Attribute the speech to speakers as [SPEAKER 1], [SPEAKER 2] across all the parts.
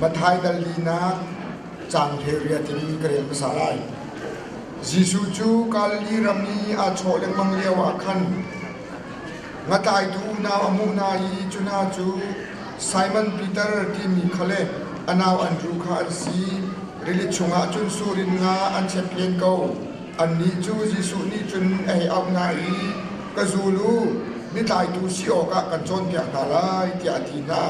[SPEAKER 1] Matthai dal linak cangtheu riat in ka rel hmasa lai. Jesuh cu Galili ram i aa chawh lengmang lio ah khan ngatlaitu unau a hmuh hna i cu hna cu Simon Peter timi kha le a nau Andrew kha an si. Rili chungah cun sur in nga an chep phen ko. Annih cu Jesuh nih cun ei auh hna i, Ka zul u, mitlaitu si awkah kan cawnpiak hna lai, tiah a ti hna.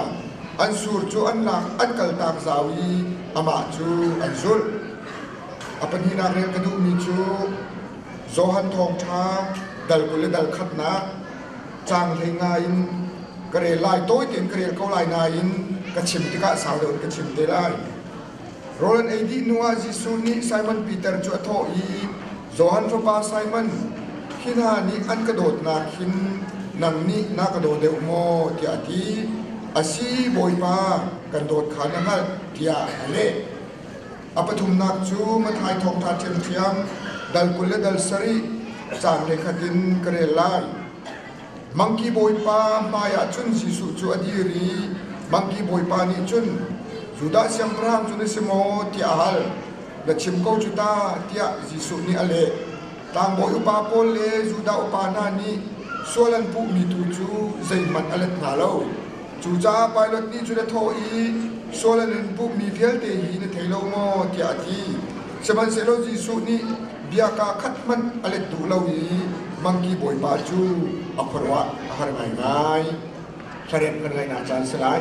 [SPEAKER 1] An sur cu an lak, an kaltak zau i amah cu an zulh. A pahnihnak rel ka duhmi cu Johan Thawngṭha dal kul le dal khatnak caang hlei nga in ka rel lai, tawi tein ka rel ko lai nain ka chim tikah sau deuh in ka chim te lai. Rawl an ei dih hnuah Jesuh nih Simon Peter cu a thawh i, Johan fapa Simon, hi hna nih an ka dawtnak hin nang nih na ka daw deuh maw? tiah a ti. Asi, Bawipa, kan dawt kha na hngalh, tiah a leh. A pathumnak cu Mathai thawngṭha ṭhiamṭhiam, dal kul le dal sarih, caan le khat in ka rel lai. Mangki Bawipa hmaiah cun Jesuh cu a dir i Mangki Bawipa nih cun Judah siangpahrang cu na si maw tiah a hal. Na chim ko cu ta tiah Jesuh nih a leh. Tlangbawi upa pawl le Judah upa hna nih sual an puhmi tu cu zeihmanh a let hna lo. Cucaah Pilat nih cun a thawh i, Sual an in puhmi vialte hi na thei lo maw? tiah a ti. Sihmanhsehlaw Jesuh nih, Bia kaa khat hmanh a let duh lo i mangki bawipa cu a khuaruah a har ngaingai. Thlarek kan ngaihnak caan si lai.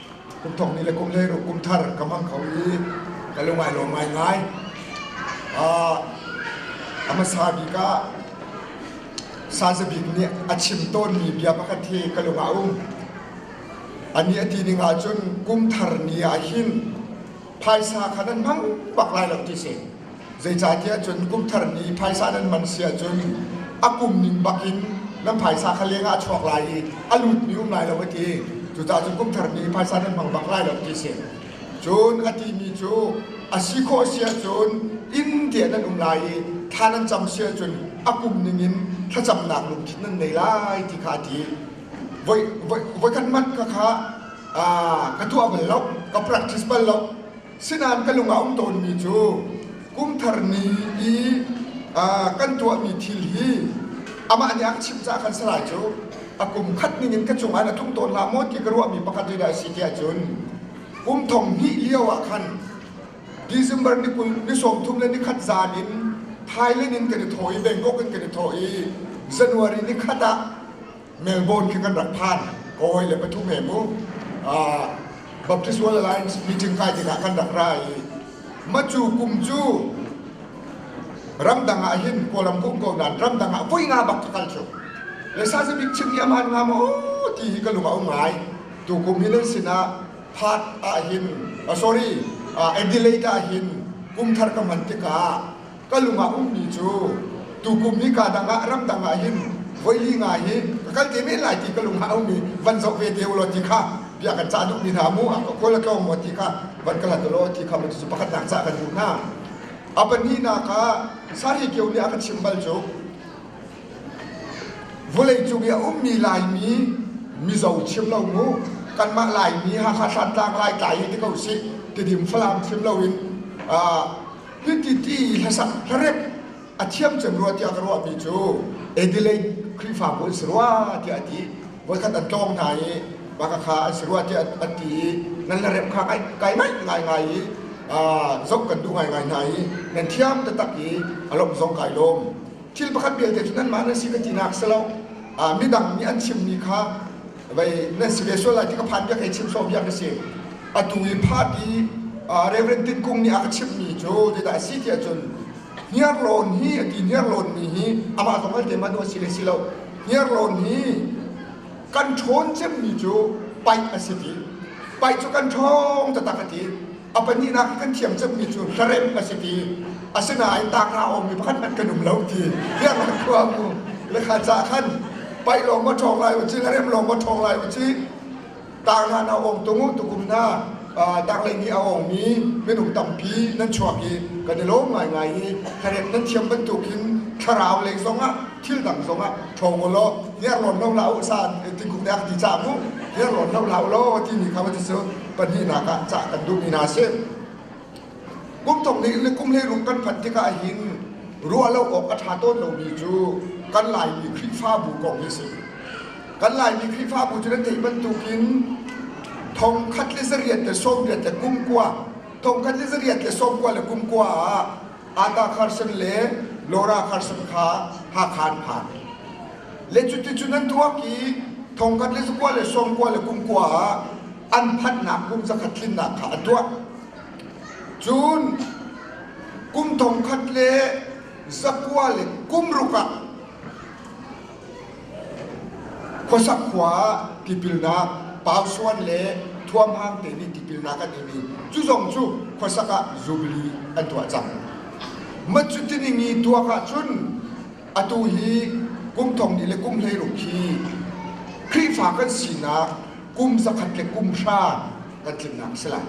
[SPEAKER 1] Kum thong ni le kum hlei kum thar ka hmang kho i ka lungai lawm ngaingai. Uh, a hmasa bik ah saza bik nih a chim tawnmi bia pakhat hi ka lungah um. Ani a ti ning ahcun kum thar ni ah hin phaisa kha nan hmang bak lai lo ti si zeicahtiah cun kum thar ni phaisa nan man si ahcun a kum ning bakin nan phaisa kha leng ah a chuak lai i a lut ni um lai lo a ti cucaah cun kum thar ni phaisa nan hmang bak lai lo ti si cun a timi cu a si khawh si ahcun inn tiah nan um lai i thla nan cam si ahcun a kum ning in thlacamnak lungthin nan nei lai ti kha a ti voi voi khat mat ka kha ah ka tuah bal lo ka practice bal lo sinain ka lung a um tawnmi cu kumthar ni i kan tuahmi thil hi amah nih a ka chimh caah khan salai cu a kum khat ning in ka cungah na tlung tawn la maw ti ka ruahmi pakhat ri dai si tiah cun kum thong hnih lio ah khan December ni kul ni sawmthum le ni khat zan in Thailand in kan i thaw i Bangkok in kan i thaw i January ni khat ah Melbourne khi kan rak phan ka hawi le pathum he mu Baptist World Alliance meeting kai tikah kan rak ra i macu kum cu ramdang ah hin kawlam kum ko nan ramdang ah voi nga bak ka kal cu le sa se bik chim hi aman nga maw ti hi ka lung a um ngai tu kum hi nan sinah part ah hin sorry Adelaide ah hin kum thar ka hman tikah ka lungah ummi cu tukum hika dang ah ramdang ah hin voili nga hi ka kal te men lai ti ka lungah a um i van zoh ve te ulaw ti kha bia kan cah duhmi hna mu a ka kawl a tlawng maw ti kha van kal hlat ulaw ti kha mun cu pakhat nak cah kan duh hna a pahnihnak ah sari keu nih a ka chim bal cu vawleicung i a ummi laimi mizo chim lo mu kanmah laimi hakha santlang lai tlai hi ti ko si tidim falam chim loin ah Hiti hlasak hlarep a thiam cem rua tiah ka ruahmi cu Adelaide Khrihfabu an si rua tiah a ti. Voikhat an tlawng hna i Bakakha an si rua tiah an ti i nan hlarep kha kai, kai ngai ngaingai i zoh kan duh ngaingai hna i nan thiam taktak i a lawmh zong kai lawm. Thil pakhat vialte cu nanmah nan si ka tinak si lo. Midang nih an chimmi kha Vai nan si ve sual lai ti ka phan piak hei chim so piak ka si. Atu i phat i Reverend Tin Kung nih a ka chimhmi cu zeidah a si tiah cun hniar lawn hi a ti hniar lawn mi hi amah zong al te manh a si le si lo hniar lawn hi kan ṭhawn cemmi cu paih a si ti paih cu kan ṭhawng taktak a ti a pahnihnak kan thiam cangmi cu hlaremh a si ti asinain tangra awmi pakhat hmanh kan um lo ti fiangah khua mu lekha ca khan pai lawng ma ṭhawng lai uci hlaremh lawng ma ṭhawng lai uci tangra na awng tung u tukum hna tanglei ni a awngmi minung tampi nan chuak i kan i lawm ngaingai i hlaremh nan thiam bantuk hin thlarau lei zongah thil dang zongah ṭhawng u law niarlawn lo la u sa tingkum nek ti ca mu niarlawn lo la u law timi kha va ti cu pahnihnak ah cah kan duh mi hna a si. Kum thong nih le kum hleirung kan phanh tikah hin ruah lo awk a ṭha tawn lomi cu kan Laimi Khrihfabu kong hi a si. Kan Laimi Khrihfabu cu nan theih bantukin thongkhat le zariat le sawmriat le kumkua thongkhat le zariat le sawmkua le kumkua ah Ata Carson le Laura Carson kha Hakha an phan. le cuticun an tuak i thongkhat le zakua le sawmkua le kungkua ah an phanhnak kum zakhat tlinnak kha an tuah cun kum thongkhat le zakua le kum ruk ah khuasak khua ah tipilnak pausuan le thuamhang te nih tipilnak an imi cu zong cu khuasak ah zubili an tuah cang matcutining i tuak ahcun Atu hi kum thong ni le kum hleirum khi Khrihfa kan sinak kum zakhat le kum hra kan tlimnak a si lai.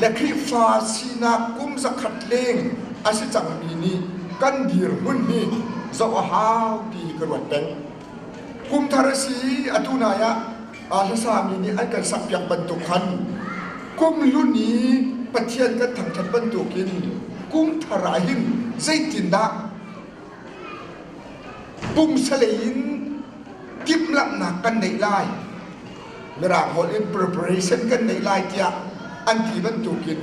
[SPEAKER 1] Le Khrihfa sinak kum zakhat leng a si cangmi nih kan dirhmun hi zoh a hau ti hi ka ruat peng. Kum thar a si i atu nai ah a hlasami nih an kan sakpiak bantuk khan kum hlun i Pathian kan thangṭhat bantuk in kum thar ah hin zeitindah pumsalei in timhlamhnak kan neih lai mirang holh in preparation kan neih lai tiah an ti bantukin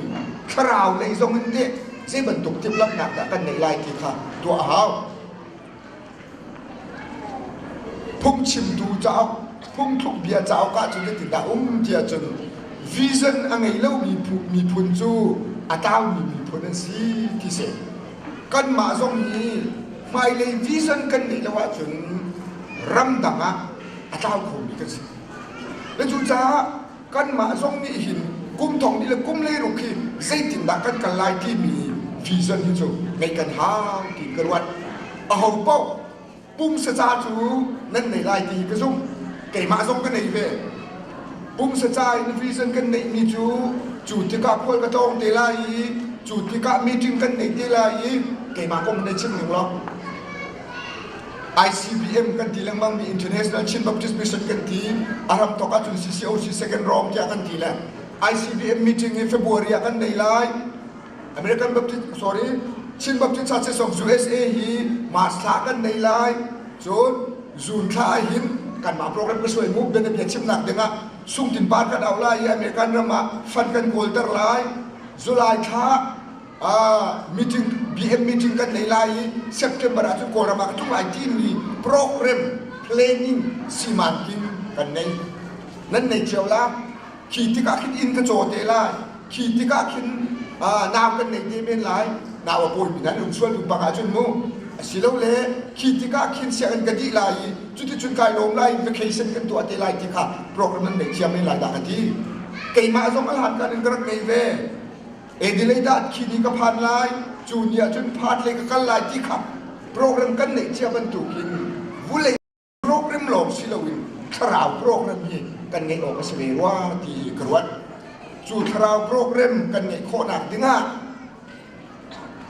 [SPEAKER 1] thlarau lei zong in teh zei bantuk timhlamhnak dah kan neih lai ti kha tuah a hau Phungchimtu cauk, phungthlukbia cauk ah cun hitindah um ti ahcun vision a ngei lomi miphun cu a tlaumi miphun an si ti si. Kanmah zong hi hmailei vision kan ngeih lo ahcun ramdang ah a tlau khomi kan si. Cucaah kanmah zong nih hin kum thong ni le kum lei ruk hi zeitindah kan kal lai timi vision hi cu ngeih kan hau ti ka ruat a ho paoh pumsa ca cu nan nei lai ti ka zumh keimah zong ka nei ve pumsa ca in vision kan neihmi cu cu tikah pual ka tlawng te lai i cu tikah meeting kan nei te lai i keimah kong nei chim ning lo ICBM kan ti lengmang mi International Chin Baptist Mission kan ti a ram tok ahcun CCOC second round tiah kan ti le ICBM meeting in February ah kan nei lai American Baptist sorry Chin Baptist Churches of USA hi March thla kan nei lai cun June thla hin kan mah program ka suai mu bia bia chim nak ding ah sungtin par kan au lai i American ram ah fund kan kawl ter lai July thla meeting BM meeting kan nei lai i September ah cun Kawlram ah ka tlung lai timi program planning siman ding kan nei nan nei cio la khi tikah khin inn ka caw te lai khi tikah khin nau kan nei te men lai nau a pawi nan um sual ding bang ahcun mu asilo le khi tikah khin sianginn ka dih lai i cuticun kai lawm lai vacation kan tuah te lai ti kha program nan nei cia men lai da ka ti keimah zong alhan kan in ka rak nei ve Adelaide ah khi ni ka phan lai cu ni ahcun phat lei ka kal lai ti kha program kan neih cia bantuk in vulei program lawng si loin thlarau program hi kan ngeih awk a si ve rua ti ka ruat cu thlarau program kan ngeih khawhnak dingah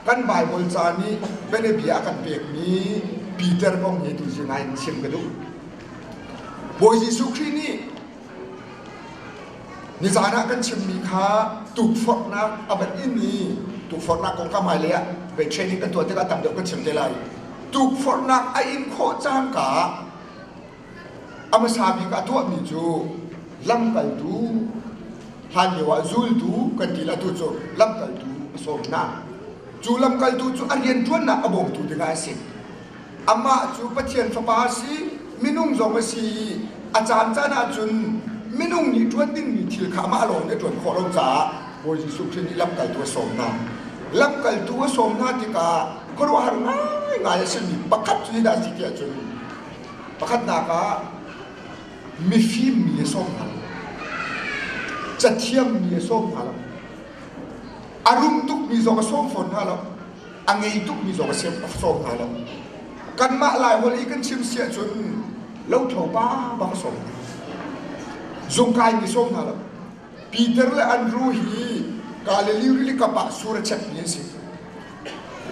[SPEAKER 1] kan Bible ca nih bianabia a kan pekmi Peter kong hi tu zing ah in chim ka duh Bawi Jesuh Khrih nih Nizaan ah kan chimmi kha tukforhnak a van in i tukforhnak kongkam hmailei ah bei training kan tuah tikah tam deuh kan chim te lai. Tukforhnak a in khawh cangka a hmasa bik a tuahmi cu lamkaltu hlanlio ah zultu kan ti atu cu lamkaltu a sawm hna. Cu lamkaltu cu a rianṭuannak a bawmtu dingah a si. Amah cu Pathian fapa a si, minung zong a si i a caan caan ah cun minung nih ṭuan dingmi thil kha amah lawng nih a ṭuan khawh lo caah Bawi Jesuh Khrih nih lamkaltu a sawm hna. Lamkaltu a sawm hna tikah khuaruahhar ngaingai a simi pakhat cu hi dah a si ti ahcun pakhatnak ah mifim mi a sawm hna lo. Cathiam mi a sawm hna lo. A rum tukmi zong a sawm fawn hna lo. a ngei tukmi zong a siam sawm hna lo. Kanmah Lai holh i kan chim si ahcun lothlo pa bang sawm hna. Zung kai mi sawm hna lo. Peter le Andrew hi Galilee rilikam ah sur a chekmi an si.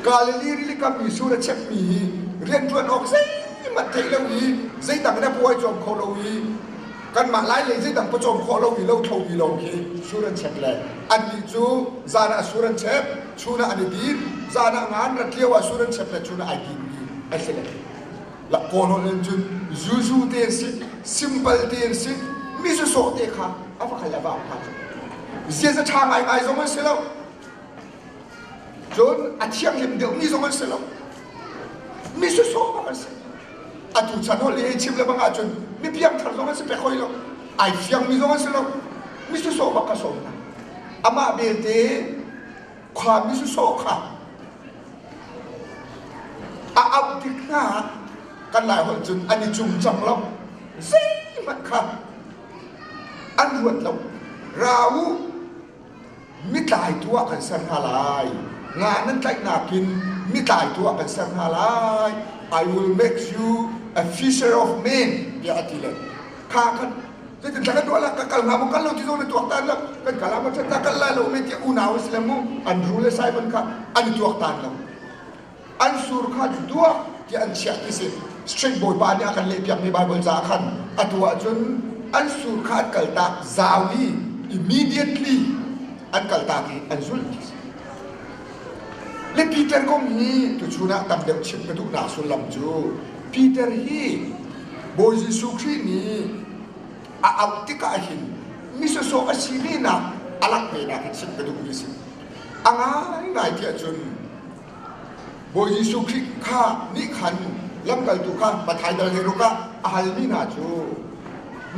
[SPEAKER 1] Galilee rilikam i sur a chekmi hi rianṭuan awk zeihmanh theih lo i zeidang in a puai cawm kho lo i kanmah lai lei zeidang pawcawm khawh lo mi lo tho mi lawng khi sur an chek le an nih cu zan ah sur an chek chun ah an i din zan ah ngan rat lio ah sur an chek le chun ah ai din mi an si le la kono len cun zuzu te si simple te si mi su so te kha ava kal ava pa ziaza tha ngai ngai zong an si lo Cun a thianghlim deuhmi zong an si lo. Mi susawm bang an si. Atu chan holh i chim le bang ahcun mi piangthar zong an si pek hoi lo. Ai fiangmi zong an si lo. Mi susawm bang ka sawm hna. Amah belte khua mi susawm kha a auh tik hna kan lai holh cun an i cung cang lo. Zeihmanh kha an ruat lo. Ra u, mitlaitu ah kan ser hna lai. Nga nan tlaihnak in mitlaitu ah kan ser hna lai. I will make you a fisher of men tiah a ti le kha kan zeitin tla kan tuah la ka kal nga mu kal lo ti zo ne tuak tan la kan kala ma chan na kal la lo me ti unau si le mu Andrew le Simon kha an tuak tan lo an sur kha an tuah tiah an chiah ti si straight bawipa nih a kan lehpiakmi bible caah khan atu ahcun an sur kha an kaltak zau i immediately an kaltak i an zulh ti si le Peter kong hi tuchun ah tam deuh chim ka duhnak sullam cu Peter hi Bawi Jesuh Khrih nih a auh tikah hin misosawh a si venak a langh venak in chim ka duhmi a si a ngaingai ti ahcun Bawi Jesuh Khrih kha nih khan lamkaltu kha Matthai dal hlei ruk ah a halmi hna cu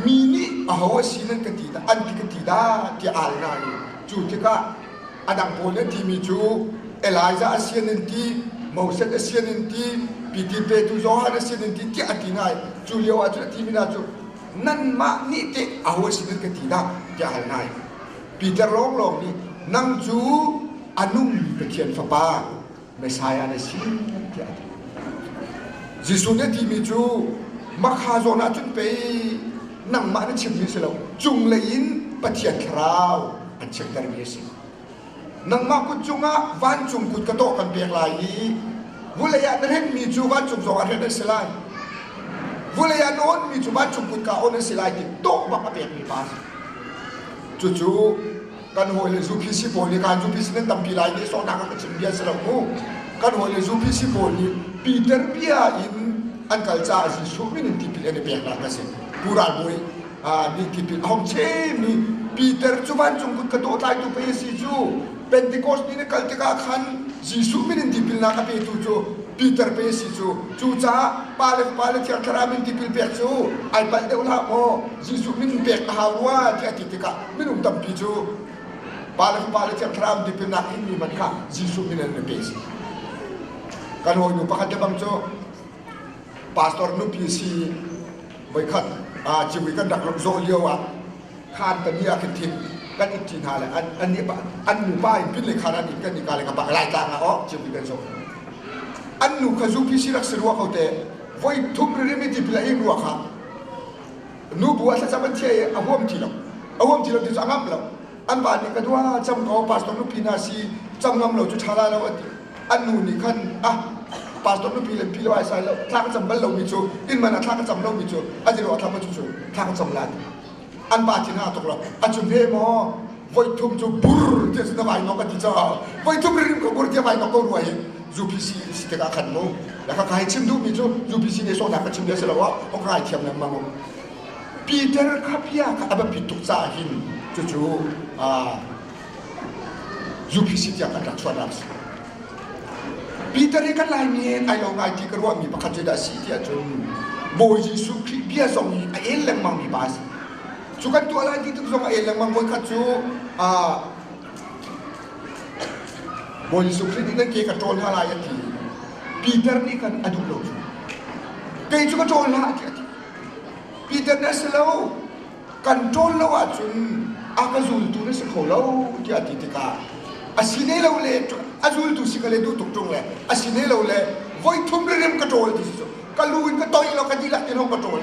[SPEAKER 1] mi nih aho a si nan ka ti dah an ti ka ti dah tiah a hal hna i cu tikah a dang pawl nih an timi cu Elijah a sian an ti Moses a sian an ti Piter petu Johan a sian an ti tiah a ti hna i cu lio ah cun a timi hna cu nanmah nih teh aho a si nan ka ti dah tiah a hal hna i Peter lawnglawng nih nang cu a nungmi Pathian Fapa Messiah na si tiah a ti. Jesuh nih a timi cu makha zawn ah cun pei nangmah na chimmi si lo cunglei in Pathian Thlarau kan chiahtermi a si. Nangmah kut cungah vancung kut ka tawh kan pek lai i vulei ah na renhmi cu vancung zong ah hren an si lai. Vulei ah na awnmi cu vancung kut ka awn an si lai ti tawh bak a pekmi pa a si. Cucu kan hawi le zu PC pawl nih kan zu PC nan tampi lai ni so nak ka chim bia si lo mu kan hawi le zu PC pawl nih Peter bia in an kal caah Jesuh min in tipil an i pek nak ka si bural bawi min tipil a hong chemi Peter cu vancung kut ka dawh tlai tu pa si cu Pentecost ni na kal tikah khan Jesuh min in tipil na ka pe tu cu Peter pe si cu cu caah pa le pa le thiar thlarau min tipil pek cu ai palh deuh la maw Jesuh min pek a hau rua ti a ti tikah minung tampi cu pa le fapa le thiang thlarau ti pennak in mi man kha Jesuh min in an pe a si. Kan hawinu pakhat le bang cu pastor nupi a si i voikhat aa ciwi kan rak rak zawh lio ah khaan tani ah khin thin kan it ṭi hna le an an nih an nupa in pin le khaan an it kan nika le ka pa lai tlang ah awh ciwi kan zawh an nu kha zupi si rak si rua ko te voi thum riri mi ti pila in rua kha nubu a thlacam an thia i a huam ti lo a huam ti lo ti cu a ngamh lo an pa nih ka dua cam ko pastor nupi hna si cam ngam lo cu ṭha la lo a ti an nu nih khan ah pastor nupi le pi lo ai sai lo thla ka cam bal lomi cu inn man ah thla ka cam lomi cu a zero a thlam a cu cu thla ka cam la an pa thin a tuk lo a cun he maw voithum cu bur ti a si na vai nok a ti caah voithum rim ko bur ti a vai nok ko rua hi UPC si tikah khan mu na ka kai chim duhmi cu UPC ne sawhna ka chim ne si lo ah ok rai thiam lengmang u Peter khapia ka aba pituk ca hin cucu UPC tiang kan rak chuan asi Peter i kan laimi ai lo ngai ti ka ruahmi pakhat cu dah si tiah cun Bawi Jesuh Khrih bia zong i a el lengmang mi pa asi Cu kan tuah lai ti tuk zong a el lengmang voikhat cu Bawi Jesuh Khrih nih kan ke ka ṭawl hna lai a ti. Peter nih khan a duh lo cu. Kei cu ka ṭawl hna a ti. Peter nih a si lo, kan ṭawl lo ahcun a ka zultu na si kho lo tiah a ti tikah a si ne lo le a zultu si ka le duh tuk ṭung le a si ne lo le voi thum le rem ka ṭawl ti cu ka lu in ka toih lo ka dilah tiang ka ṭawl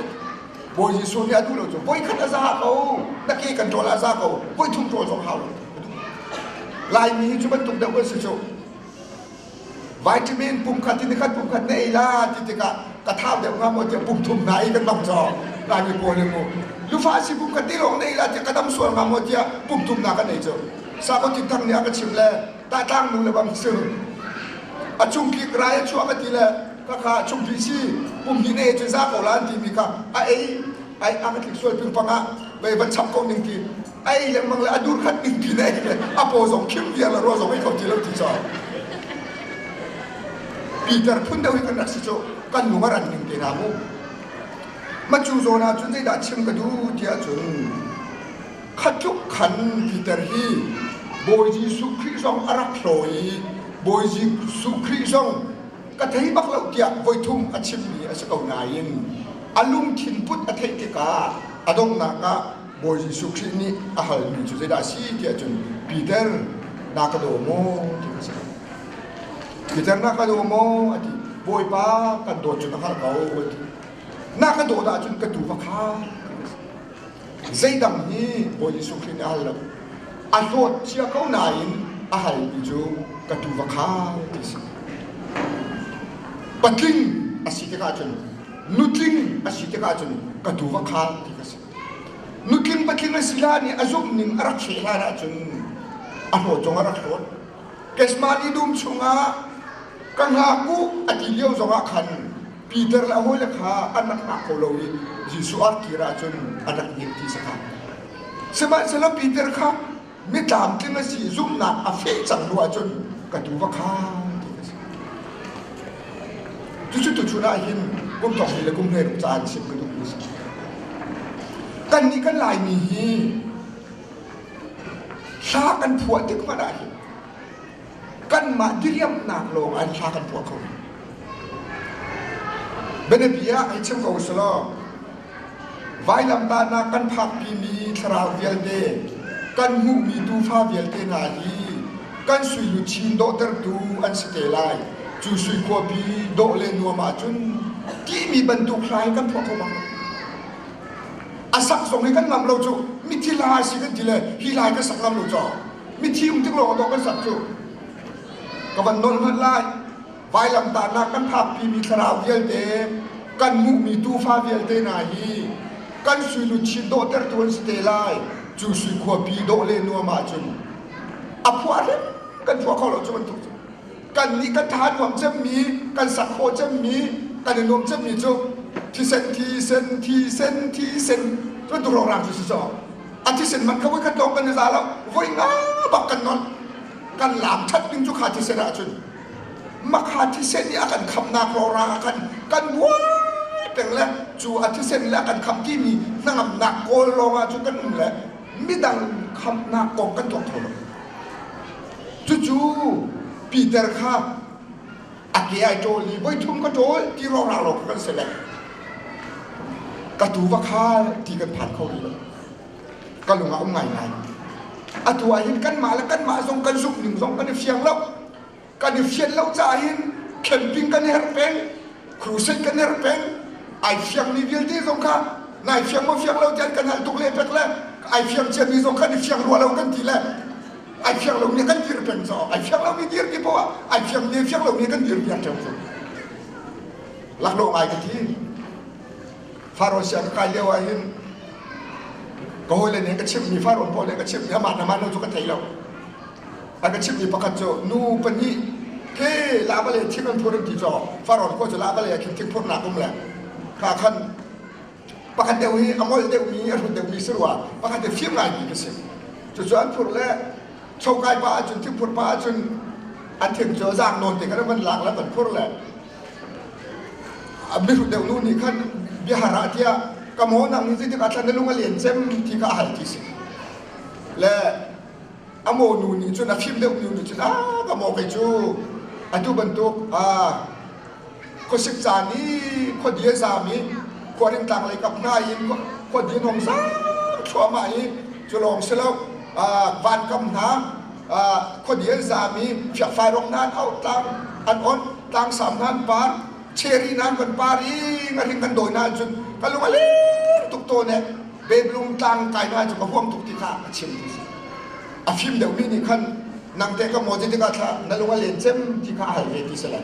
[SPEAKER 1] Bawi Jesuh nih a duh lo cu voikhat a za ko na ke kan ṭawl a za ko voi thum ṭawl zong hau lo Laimi hi cu bantuk deuh an si cu vitamin pum khat in khat pum khat na ei la ti tikah ka thau deuh hnga maw tiah pum thum hna i kan bang cawk Laimi pawl nih mu lufa si pum khat te lawng na ei la tiah ka dam sual hnga maw tiah pum thum hna kan ei cu Sako Tin Thang nih a ka chimh le tahtlang nu le bang si a chungki krai a chuak a ti le kakha a chungki si kumhnih na ei cu za ko la an timi kha a ei ai a ka tlik sual ping pang ah vei van chap ko ning ti ai lengmang le a dur khat ning ti na ei le a po zong khim viar la ro zong ei kho ti lo ti cho Peter phun deuh hi kan rak si chu kan nung a ran ning te na mu ma chu zona cun zei dah chim ka du tiah cun khat tluk khan titer hi Bawi Jesuh Khrih zong a rak hlaw i Bawi Jesuh Khrih zong ka thei bak lo tiah voithum a chimmi a si ko nain a lungthin put a theih tikah a donghnak ah Bawi Jesuh Khrih nih a halmi cu zeidah a si tiah cun Peter na ka daw maw ti a si ko Peter na ka daw maw a ti Bawipa kan dawt cu na hngalh ko a ti na ka dawt ahcun ka tuu va kha zeidang hi Bawi Jesuh Khrih nih a hal lo. A hlawt cia ko nain a hal mi cu ka tu va khai ti a si. Patling a si tikah cun nutling a si tikah cun ka tu va khai ti ka si. Nutling patling a si hlan i a zumh ning a rak hreh hlan ah cun a hlawt zong a rak hlawt. Kesmah li dum chungah ka hngak u a ti lio zongah khan Peter le a hawile kha an rak hngah kho lo i Jesuh an kir ahcun an rak dir ti sakha. Sihmanhsehlaw Peter kha mitlamtling a si zumhnak a feh cang hnu ahcun ka tu va kha ti a si. Tucu tuchun ah hin kum thongni le kum hleiruk ca an sim ka duh mi si. Kannih kan Laimi hi hla kan phuah tik hmanh ah hin kanmah diriamhnak lawng ah hla kan puah kho. Bianabi ah ai chim ko sih law vailamtahnak kan phakpi mi thlarau vialte kan hmuhmi tuufa vialte hna hi kan suilu chin dawhtertu an si te lai cu sui khuapi dawh le nuam ahcun timi bantuk hla hi kan phuah kho bang a sak zong hi kan lam lo cu mi thi la si kan ti le hi lai ka sak lam lo caw Mithium tik lawng dawh kan sak cu. Ka van nawl ngat lai. Vailamtahnak kan phakpi mi thlarau vialte, kan hmuhmi tuufa vialte hna hi kan suilu chin dawhtertu an si te lai. Cu sui khuapi dawh le nuam ahcun a phuah hrep kan phuah kho lo cu bantuk cu. kan nih kan tha nuam cemmi kan sak khawh cemmi kan i nuam cemmi cu thisen thisen thisen thisen cun tuhrok rang cu si caw a thisen man kha voi khat lawng kan i za lo voi nga bak kan non kan lam that ding cu kha thisen ah cun ma kha thisen i a kan khamnak rora a kan kan muai peng le cu a thisen le a kan kham ti mi hnangamnak kawl lawng ah cun kan um le midang khamnak kong kan tuang kho lo Cucu Peter kha a ke ai ṭawl i voithum ka ṭawl ti rauhrang lo kan si le ka tu va khal ti kan phan kho rih lo ka lung a um ngaingai atu ahhin kanmah le kanmah zong kan zumh ning zong kan i fiang lo kan i fian lo caah hin camping kan i herh peng crusade kan i herh peng ai fiangmi vialte zong kha nai fiang maw fiang lo tiah kan hal tuk le pek le ai fiang ciami zong kan i fiang rua lo kan ti le ai fiak lo mi kan dir peng caah ai fiak lo mi dir ti poah ai fiak ne fiak lo mi kan dir piak ṭheo cu laklawh ngai ka ti faro sia ka kai lio ah hin ka hawi le nih ka chimh mi faro pawl le ka chimh mi amah na man lo cu ka thei lo a ka chimh mi pakhat cu nu pahnih ke la vale thim an phur an ti caah faro khua cu la vale ah khin thik phurnak um le ka khan pakhat deuh hi a ngol deuh i a hrut deuhmi si rua pakhat deuh fim ngaimi ka si cucu an phur le chokai pa ahcun thingphur pa ahcun an thing cu zang nawn te kan van lak le van phur le a mihrut deuh nu nih khan biahar ah tiah ka maw nang nih zeitik atlan na lung a len cem ti kha a hal ti si le a maw nu nih cun a fim deuh nu nih cun a ka maw kei cu atu bantuk a khuasik caan i khuadi a zaam i khuarin tlanglei kap hna in khuadi an hong zaam thluahmah i cu lawng si lo van kam hna khuadi an zaam i fiakfai rong nan auh tlang an on tlangsam nan par cheri nan van par i a ring kan dawi na cun ka lung a lir tuk tawn e bedlung tlang kai na cu ka huam tuk ti kha a chim ti si a fim deuhmi nih khan nang te ka maw ti tikah thla na lung a len cem ti kha a hal ve ti si lai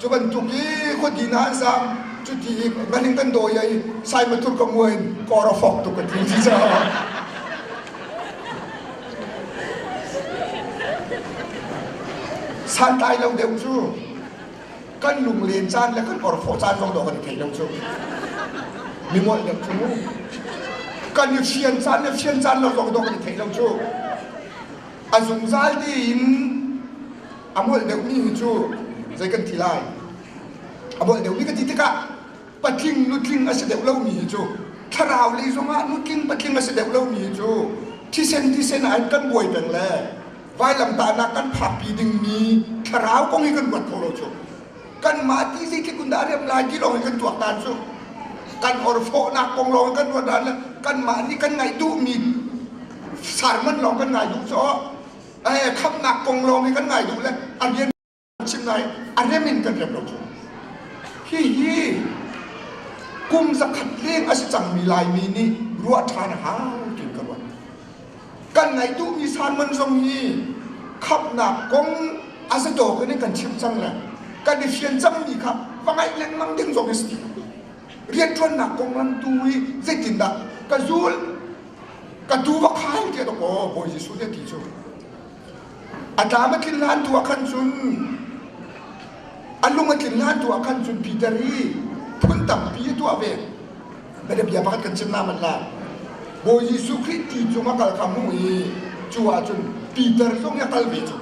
[SPEAKER 1] Cu bantuk i khuadi na han sang cuti i nganing kan dawi ai sai matur ka mua in kor a fok tuk ka ti si caah santlai lo deuh cu kan lunglen caan le kan orfawh caan zong dawh kan thei lo cu mi ngolh deuh cu kan i fian caan le fian caan lo zong dawh kan thei lo cu a zungzal tein A molh deuhmi hi cu zei kan ti lai? A molh deuhmi ka ti tikah patling nutling a si deuh lomi hi cu thlarau lei zongah nutling patling a si deuh lomi hi cu thisen thisen ah hin kan buai peng le vailamtahnak kan phakpi dingmi thlarau kong hi kan ruat kho lo cu kanmah ti zeitluk in dah a riam lai ti lawng hi kan tuak tan cu kan orfawhnak kong lawng kan ruat dan le kanmah nih kan ngaih duhmi sermon lawng kan ngai duh cu khamnak kong lawng hi kan ngai duh le a rian chim nai a rem in kan rem lo ko hihi kum zakhat leng a si cangmi laimi nih ruah ṭhan a hau tiin ka ruat kan ngaih duhmi sanman zong hi khapnak kong a si dawk in kan chim cang le kan i fian cangmi kha va ngaih lengmang ding zong hi si rianṭuannak konglam tu hi zeitindah ka zul ka tu va khai tiah dok aw Bawi Jesuh nih a ti cu a tlam a tlin hlan tu ah khan cun a lung a tlin hlan tu ah khan cun Peter hi phun tampi a tuah ve bia bia pakhat kan chim naman la Bawi Jesuh Khrih ti cung a kal kam hnu i cu ah cun Peter zong hi a kal ve cu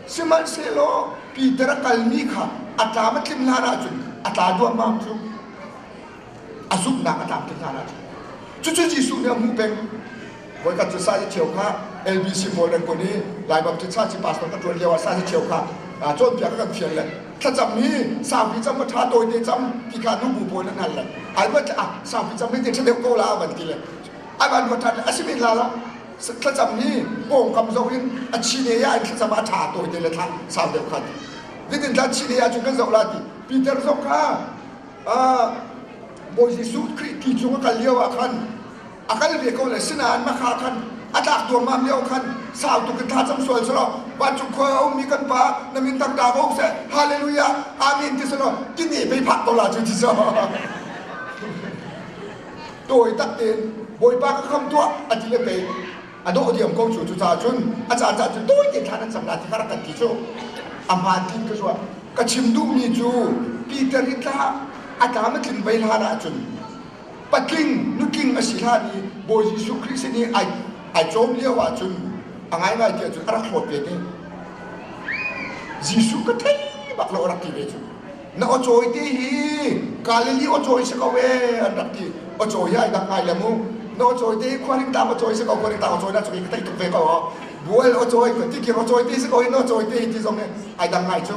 [SPEAKER 1] Sihmanhsehlaw Peter a kalmi kha a tlam a tlim hlan ahcun a tla duahmah cu a zumhnak a tam tuk hlan ahcun cucu Jesuh nih a hmuh peng voikhat cu sa si cheu kha LBC pawl an kun i Lai Baptist sa si pastor ka ṭuan lioah sa si cheu kha cawnpiak a kan fial le thlacam i saupi cam a ṭha tawite cam ti kha nu bu pawl an hal le ai ruat ah saupi cam hei ti ṭha deuh ko la a van ti le a van ruat ṭhan le a si men hlan ah thlacam hi pawngkam zoh in a chile ah an thlacam a ṭha tawi te le thla sau deuh khan nitin thla chile ah cun kan zoh la ti Peter zong kha Bawi Jesuh Khrih ti cung a kal lio ah khan a kal ve ko le sinain makha khan a tlak tuangmam lio khan sau tuk in tha cham sual selaw vancung khua a ummi kan pa na min tak da ko seh hallelujah amen ti selaw tini mei phak ko la cu ti so tawi tak tein bawipa ka kham tuah a ti le pei a dawh diam ko cu cucaah cun a caan caan cu tawi tein thlan an cam la ti kar kan ti cu a hmaan tiin ka ruah ka chim duhmi cu Peter i tla a tlam a tling vei hlan ahcun patling nutling a si hlan i Bawi Jesuh Khrih sin i ai ai cawm lio ahcun a ngaingai ti ahcun a rak hlawt ve te Jesuh ka thei bak lo a rak ti ve cu na awcawi te hi Galilee awcawi si ko ee an rak ti awcawi hi ai dang ngai le mu na awcawi te hi khuaring tang awcawi si ko khuaring tang awcawi na cu ka thei tuk ve ko ho bual awcawi ka ti kir awcawi te si ko hin awcawi te hi ti zong hi ai dang ngai cu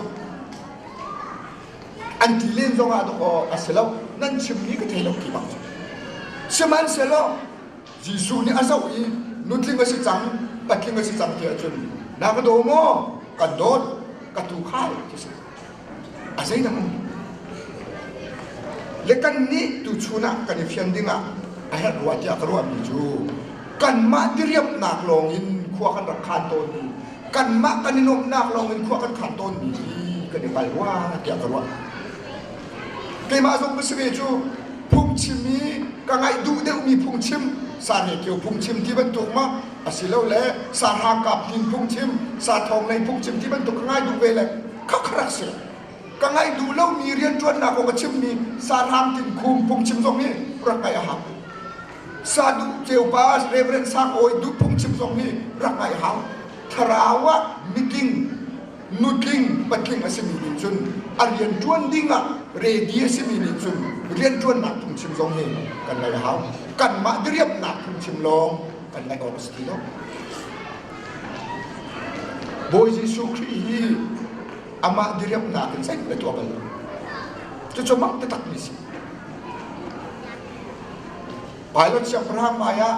[SPEAKER 1] an ti len zong ah tuk aw a si lo nan chimmi ka thei lo ki bang sihmanhsehlaw Jesuh nih a zoh i nutling a si cang, patling a si cang ti ahcun na ka daw maw? Kan dawt, ka tuukhal ti si. A zeidang um. Le kannih tuchun ah kan i fian dingah a herh rua tiah ka ruahmi cu kanmah diriamhnak lawng in khua kan rak khan tawnmi kanmah kan i nuamhnak lawng in khua kan khan tawnmi hi kan i hngal rua tiah ka ruah. Keimah zong ka si ve cu phungchim i ka ngaih duh deuhmi phungchim sanekio phungchim ti bantuk ma asilole sa hrangkap hnin phungchim sa thonglei phungchim ti bantuk ka ngai duh ve le kha kha rak si ka ngaih duh lomi rianṭuannak aw ka chimmi sa hrang tin khum phungchim zong hi rak ngaih a hau sa duh ceupa reverend sang awi duh phungchim zong hi rak ngaih a hau thlarau ah meeting nutling patling a simi nih cun a rianṭuan dingah ready a simi nih cun rianṭuannak phungchim zong hi kan lei hau kanmah diriamhnak phungchim lawng kan lei awk a si ti lo Bawi Jesuh Khrih hi amah diriamhnak in zeih le tuah bal cucu mak takmi si Pilot Abraham ai ah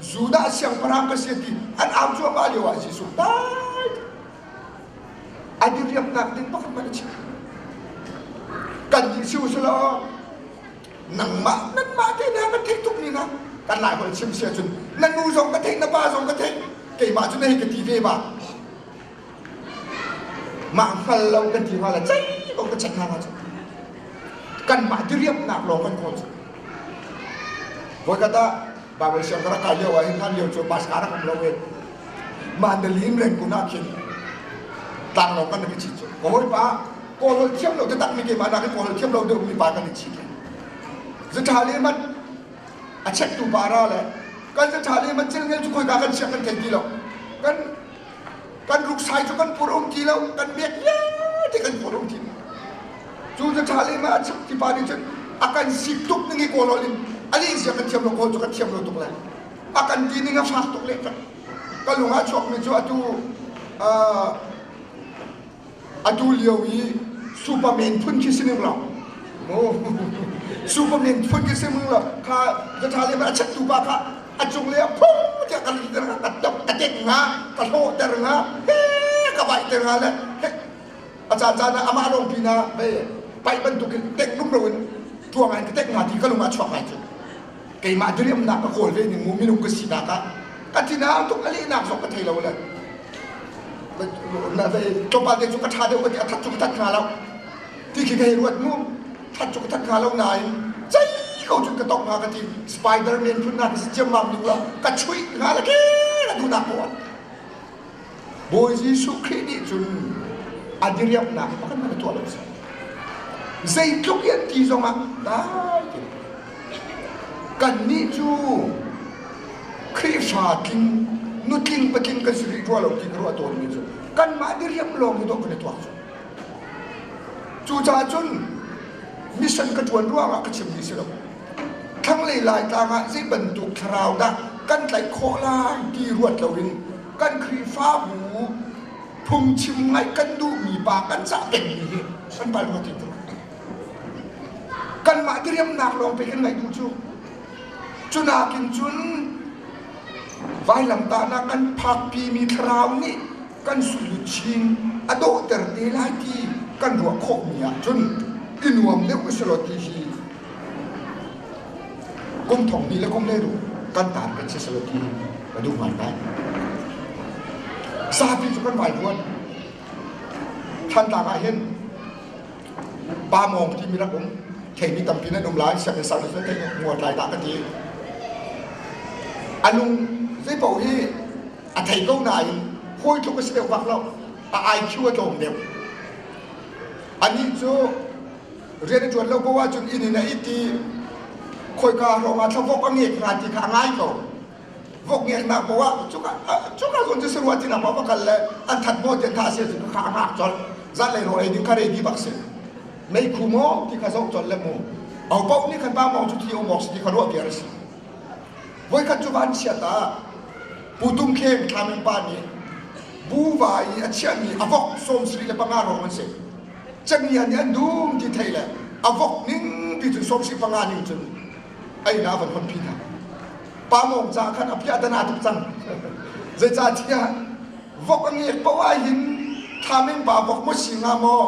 [SPEAKER 1] Judah siangpahrang ka si ti an au cuahmah lio ah Jesuh dai a diriamnak ding bak in a chim. Kan nih si usih law nangmah nanmah te na kan theih tuk ni na kan lai hual chim sia cun na nu zong ka theih na pa zong ka theih keimah cu na hi ka ti ve ba Mah hngal lo kan ti hngala ceih ko ka check hna hna cu. Kanmah diriamhnak lawng kan kawl cu. Voikhat ah Baibal siang ka rak kai lio ah hin hlan lio cu Pasca rak um lo e. Mah Dalim lengkun ah khin tlanglawng kan rak i cit cu. Ka hawipa kawl hol thiam lo biatak mi keimah nak i kawl hol thiam lo deuhmi pa kan i cit. Zuṭhali man a checktu pa ra le kan zuṭhali man chelngel cu khoika kan siang kan thei ti lo. Kan kan ruksai cu kan pur um ti lo kan biak vialte kan pur um ti lo cu cu ṭha le ma chim ti pa nih cun a kan si tuk ning i kawl in a lihzia kan thiam lo kawl cu kan thiam lo tuk le a kan ti ning a fak tuk leh ka lung a chuakmi cu atu atu lio i superman phun khi si ning lo superman phun khi si ning lo kha ka tha le a chattu pa kha a cung le a phum tiah ka ka deng nga ka hlawh ter nga ka vai ter nga le a caan caan ah amah lawng pin ah vai pai bantuk in deng nung lo in tuang in ka deng nga ti ka lung a chuak ngai cu keimah diriamnak ka kawl ve ning mu minung ka sinak ah ka tinaang tuk a lehnak zong ka thei lo le tlawmpal te cu ka ṭha deuh ka ti a that cu ka that hnga lo ti khi ka hei ruat mu that cu ka that hnga lo nain zei ko cun ka tong hnga ka ti spider man phun na ka si ciammam ning lo ka chuih hnga la ke la duhnak ko Bawi Jesuh Khrih nih cun a diriamhnak pakhat hmanh a tuah lo seh. Zeitluk in ti zongah dai tein kannih cu Khrihfa tling, nutling patling kan si rih rua lo ti ka ruah tawnmi cu kanmah diriam lawng hi dawh kan i tuak cu. Cucaah cun mission ka ṭuan ruangah ka chimmi si lo. Thlanglei Laitlang ah zei bantuk thlarau dah kan tlaih khawh lai ti ruat loin kan Khrihfabu phungchim ngaih kan duhmi pa kan cah pengmi hi kan pal ruat in kanmah diriamnak lawng pe kan ngaih duh cu cu nakin cun vailamtahnak kan phakpimi thlarau nih kan sulut chin a dawhter te lai ti kan ruah khawhmi ah cun i nuam deuh ka si law ti hi Kum thong pi le kum hlei ru kan taan kan si salo ti ka duh ngai ngai. Sapi cu kan vai duan. Than tak ah hin pa mong ti mi rak um theimi tampi nan um lai sianginn sang na te mua tlai ta ka ti. Alung zei pau hi a thei ko nain hawi tluk a si deuh bak lo a IQ a tlawm deuh. Anih cu rian ṭuan lo ko ahcun inn in a it i khoika ruangah thlavok a ngeek hnga ti kha a ngai ko vok ngeeknak poah cuka cuka zun cu saruah tinak poah va kal le an that maw tian tha sia cu kha a ngak colh zat lei ro ei ding kha ready bak si mei khu maw ti kha zoh colh le mu au poh nih khan ba mong cu thi omok si ti kha ruah piar si voikhat cu van chiat ah pu tum kheng thlaming pa nih bu va i a chiahmi a vok sawm sri le panga rong an si camian nih an dum ti thei le a vok ning pi cu sawmsi panga ning cun einak a van hmanpi hna pa mawng ca khan a piah dan aa tuk cang zeicahtiah vok a ngiak poh ah hin thaming pa vok maw si hnga maw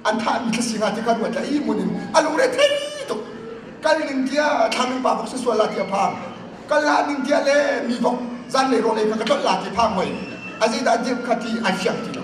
[SPEAKER 1] an thahmi thla si hnga ti kha ruat la i mun in a lungre thei tuk kal ning tiah thaming pa vok si sual la ti a phang kal la ning tiah le mi vok zanlei rawl ei kha ka tlolh la ti phang mei a zeidah dirh kha ti ai fiang ti lo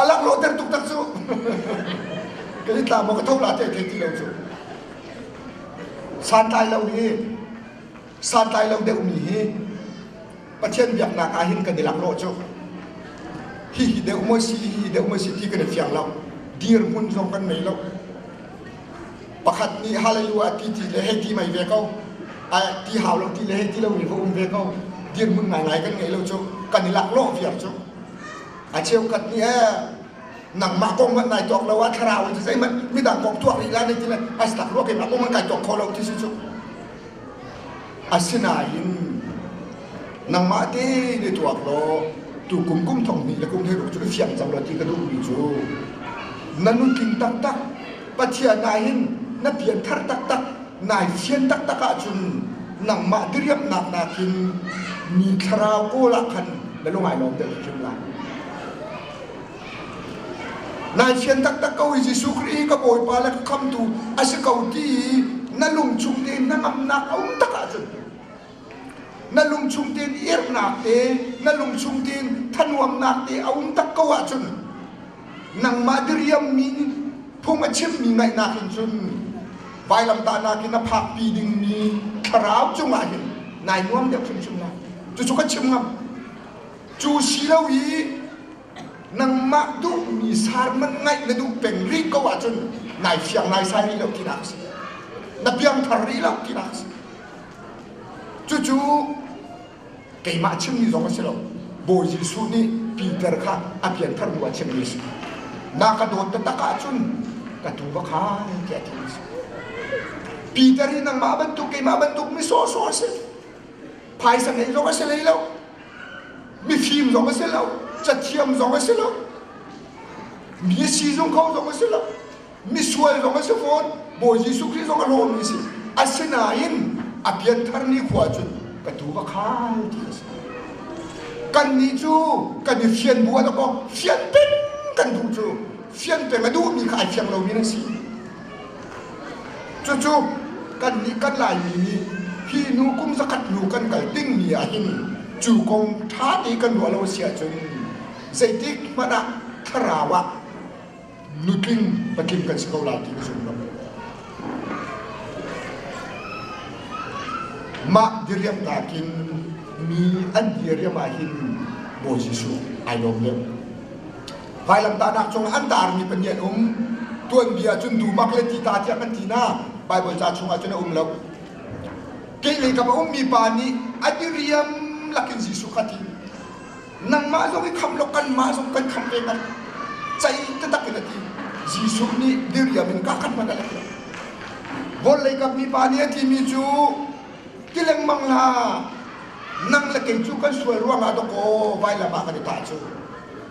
[SPEAKER 1] A laklawhter tuk tak cu. kan i tlang maw ka thok la te thei ti lo cu. Santlai lo hi santlai lo deuh mi hi Pathian biaknak ah hin kan i laklawh cu. Hi hi deuh maw si, hi deuh maw si ti kan i fiang lo. Dirhmun zong kan nei lo. Pakhat nih hallelujah ti ti le hei ti mai ve ko. Ai ti hau lo ti le hei ti lo nih ka um ve ko. Dirhmun ngaingai kan ngei lo cu. Kan i laklawh viar cu. a cheukhat nih nangmah kong hmanh nai tuak lo ah thlarau in zeihmanh midang kong tuak rih la ne ti a tak ruak in a kong hmanh kai tuak kho lo ti si cu asinain nangmah te ne tuak lo tu kum kum thong hnih le kum he ruk cu ka fiang cang lo ti ka duh mi cu na nun tling taktak Pathian nai hin na pianthar taktak nai fian taktak ahcun nangmah diriamhnak nakin mi thlarau kawl ah khan na lung ai lawm deuh hrim lai. Nai fian taktak ko i Jesuh Khrih ka Bawipa le ka khamtu a si ko ti na lung chung tein na ngamnak a um tak ahcun na lung chung tein irhnak te na lung chung tein thanuamnak te a um tak ko ahcun nangmah diriammi nih phung a chimmi ngaihnak in cun vailamtahnak in a phakpi dingmi thlarau cungah hin nai nuam deuh hrimhrim lai cucu ka chim ngam cu si lo i nangmah duhmi sarman ngaih na duh peng rih ko ahcun nai fiang nai sai rih lo tinak a si na piangthar rih lo tinak a si cucu keimah chimmi zong a si lo Bawi Jesuh nih Peter kha a pianthar bu ah chimmi a si na ka dawt taktak ahcun ka tu va khan tiah ti a si Peter hi nangmah bantuk keimah bantuk mi sawhsawh a si phaisa ngei zong a si lei lo mifim zong a si lo cathiam zong a si lo mi a si zung kho zong a si lo misual zong a si fawn Bawi Jesuh Khrih zong a lawmmi si asinain a pianthar khua cun ka tu ka khai ti a si kannih cu kan i fian bu ala ko fian peng kan duh cu fian peng a duhmi kha ai fiang lomi na si cucu kannih kan laimi nih hi nu kum zakhat nu kan kal dingmi ah hin cu kong ṭha te kan ruah lo a si ahcun zeitik hmanh ah thlarau ah nutling patling kan si ko lai ti ka zum ngam. Mah diriam nakin mi an diriam ahhin Bawi Jesuh ai lawm deuh. Vailamtahnak cung an tarmi panian um tuanbia cun dumak le ti ta tiang an ti na Bible ca chungah cun a um lo. Keilei ka ummi pa nih a diriam lakin Jesuh kha ti nangmah zong i khamh law kanmah zong kan khamh ve ngan cai tatak in a ti Jesuh nih diriam in ka kan hman a ti vawlei kam mi pa nih a ti mi cu ti lengmang la nang le kei cu kan sual ruangah to ko vailam ah kan i tah cu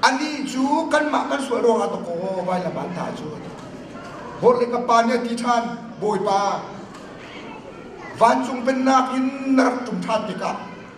[SPEAKER 1] ani cu kanmah kan sual ruangah to ko vailam ah an tah cu vawlei ka pa nih a ti ṭhan bawipa vancung pennak in na rak ṭum ṭhan tikah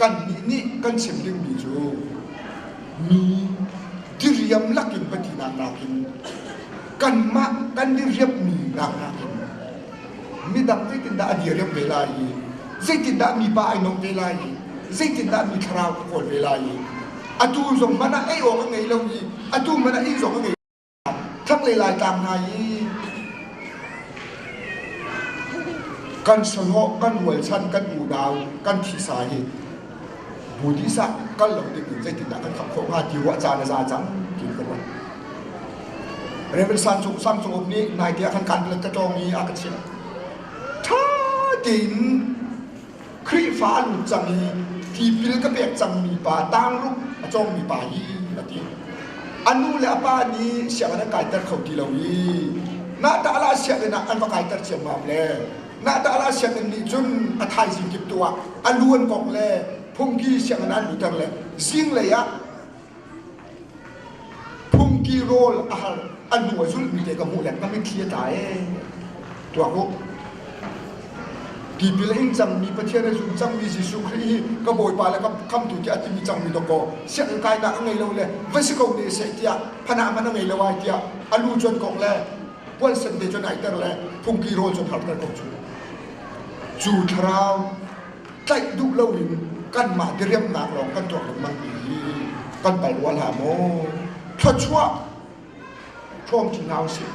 [SPEAKER 1] kannih nih kan chim dingmi cu mi diriam lakin patinak nakin kanmah kan diriammi nak nakin midang zeitindah a diriam ve lai i zeitindah mipa ai nawm ve lai i zeitindah mi thlarau a kawl ve lai i atu zong man ah ei awk a ngei lo i atu man ah inn zong a ngei Thlanglei Laitlang hna i kan sonawh kan rualchan kan udau kan thisa hi budisa kal lo ding in zeitindah kan kham khawh hnga ti ruah caan a za cang ti ka ruah Reverend San Cung Sang Cung Up nih naite ah khan kan let ka tawng i a ka chiah ṭha tein Khrihfa an lut cang i tipil ka pek cangmi pa tangruk a cawngmi pa hi a ti. A nu le a pa nih sianginn an kaiter kho ti lo i na ta'ala sianginn ah an va kaiter ciammam le na ta'ala sianginn nih cun a thaizing kip tu ah a lu an kok le phungki sianginn an luter le zinglei ah Phungki rawl a har a hnu a zulhmi te ka hmuh le ka mitthli a tla ee. Tuak u. Tipil a hing cangmi Pathian a zum cangmi Jesuh Khrih hi ka Bawipa le ka Khamhtu tiah a timi cangmi dawk kaw sianginn kainak a ngei lo le va si ko ne seh tiah phana man a ngei lo ai tiah a lu cuan kok le pualsan te cuan aiter le phungki rawl cuan harter ko cu. Cu thlarau tlaih duh lo in kanmah diriamnak lawng kan tuak lengmang mi kan pal rual ha maw thluachuah ṭhawng ṭi hna usih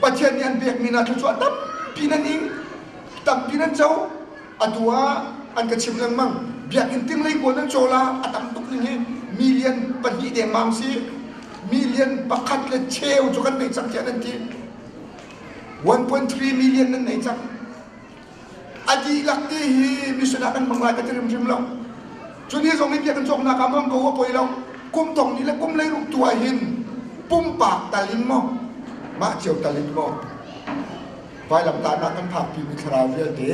[SPEAKER 1] Pathian nih an pek mi hna thluachuah tampi nan ing tampi nan co atu ah an ka chim lengmang biakinn tinglei pawl nan cola a tam tuk ning hi million pahnih dengmang si million pakhat le cheu cu kan nei cang tiah nan ti 1.3 million nan nei cang A dihlak te hi mission ah kan hmang lai ka ti hrimhrim lo. Cu ni zong in kan cawknak ah mong ko a poi lo. Kum tong ni le kum lei ruk tu ah hin pumpak tal in maw mah cio tal in maw vailamtahnak kan phakpi mi thlarau vialte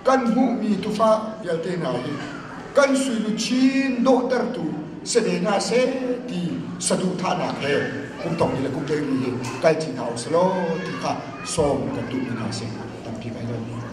[SPEAKER 1] kan hmuhmi tufa vialte hna hi kan suinu chin dawhtertu si ve hna se ti saduhthahnak he kum tong ni le kum lei ni hi kal chin hau selaw ti kha sawm kan duh mi hna a si. Tampi ka hei